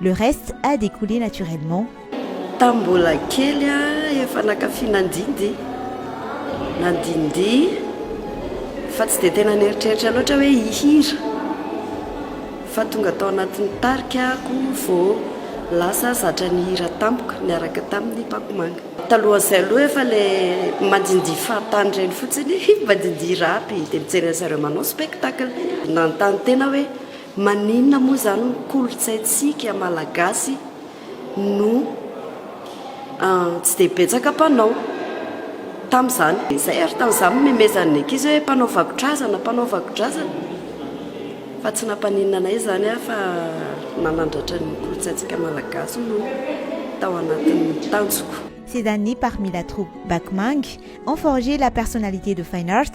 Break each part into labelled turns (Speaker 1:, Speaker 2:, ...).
Speaker 1: Le reste a découlé naturellement. Tamin'ny mbola
Speaker 2: kely aho efa naka finandindy nandindihy fa tsy dia tena nieritreritra loatra hoe hihira fa tonga tao anatin'ny tarika aho vao lasa zatra nihira tampoka niaraka tamin'ny Pakomanga. Talohan'izay aloha efa ilay mandindihy fahatany ireny fotsiny, mandindihy rap dia mijery an'izareo manao spectacle. Nanontany tena hoe. Maninona moa izany ny kolontsaintsika malagasy no tsy dia betsaka mpanao tamin'izany? Izay ary tamin'izany nomemezan'ny ankizy hoe mpanao vakodrazana, mpanao vakodrazana fa tsy nampaninona anay izany aho fa nanandratra ny kolontsaintsika malagasy no tao anatin'ny tanjoko. Ces années parmi
Speaker 1: la troupe Bac Mang ont forgé la personnalité de Fine Art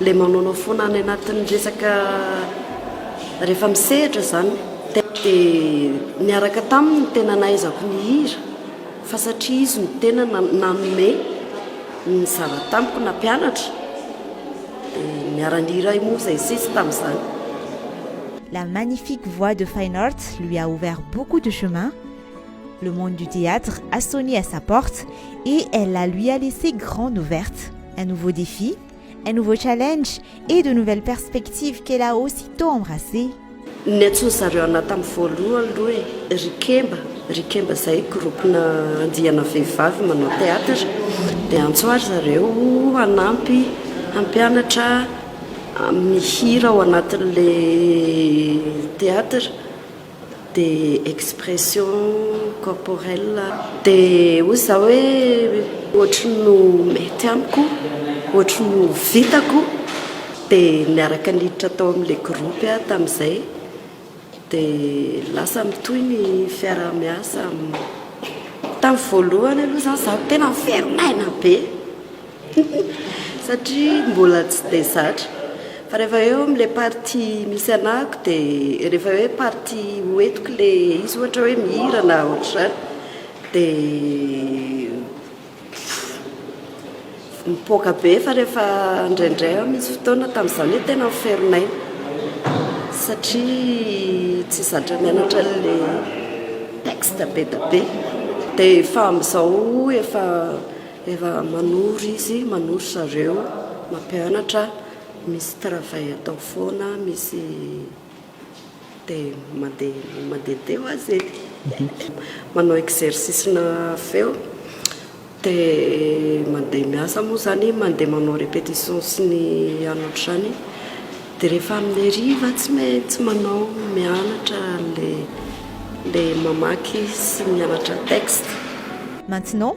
Speaker 2: Ilay manaonao foana any anatin'ny resaka rehefa misehatra izany dia niaraka taminy ny tena nahaizako nihira fa satria izy no tena nanome ny zava tamiko nampianatra dia niara nihira ahy moa izay sy izy tamin'izany.
Speaker 1: La magnifique voix de Fine Arts lui a ouvert beaucoup de chemin, le monde du theatre a sonné à sa porte et elle la lui a laissé grande ouverte. Un nouveau défi, Un nouveau challenge et de nouvelles perspectives qu'elle a aussitôt embrassées. Ny antsoin
Speaker 2: zareo anah tam voalohan aloha e, ry kemba, ry kemba zay groupe na andiana vehivavy manao theatre de antso ary zareo hanampy hampianatra mihira ao anatin le theatre. Des expressions corporelles. Dia hoy za hoe ohatry ny ho mety amiko, ohatry ny ho vitako, dia niaraka niditra tao amin'ilay groupe aho tamin'izay, dia lasa mitohy ny fiaraha-miasa, tamin'ny voalohany aloha zany za tena miverina aina be, Satria mbola tsy dia zatra. Fa rehefa eo amin'ilay partie misy anahako dia rehefa hoe partie ho entiko ilay izy ohatra hoe mihira na ohatr'izany dia mipoaka be fa rehefa indraindray aho misy fotoana tamin'izany hoe tena mifero ny aina satria tsy zatra mianatra an'ilay texte be dia be dia efa amin'izao efa Efa manoro izy, manoro zareo, mampianatra, misy travail atao foana, misy dia mandeha mandeha dia ho azy e! manao exercice na feo, dia mandeha miasa moa izany, mandeha manao repetition sy ny any ohatr'izany, dia rehefa amin'ny hariva tsy maintsy manao mianatra an'ilay ilay mamaky sy mianatra texte. Maintenant,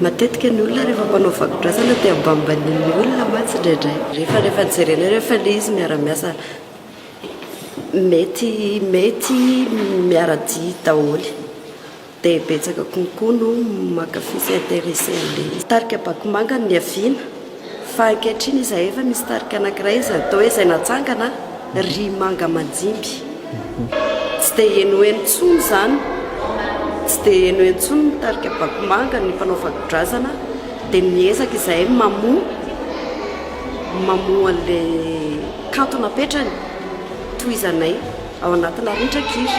Speaker 2: Matetika ny olona rehefa mpanao vakodrazana dia ambanimbanian'ny olona mantsy indraindray. Rehefa rehefa jerena eo rehefa ilay izy miara-miasa mety mety miara-dia daholo dia betsaka konkoa no mankafy sy intéressé an'ilay izy. Tarika Bakomanga ny niaviana. Fa ankehitriny izahay efa misy tarika anankiray izay atao hoe izay natsangana ry manga manjimby. Tsy dia henoheno intsony izany, tsy dia henoheno intsony ny tarika Bakomanga, ny mpanao vakodrazana dia miezaka izahay mamoha, mamoha an'ilay kanto napetrany, tohizanay ao anatina rindran-kira.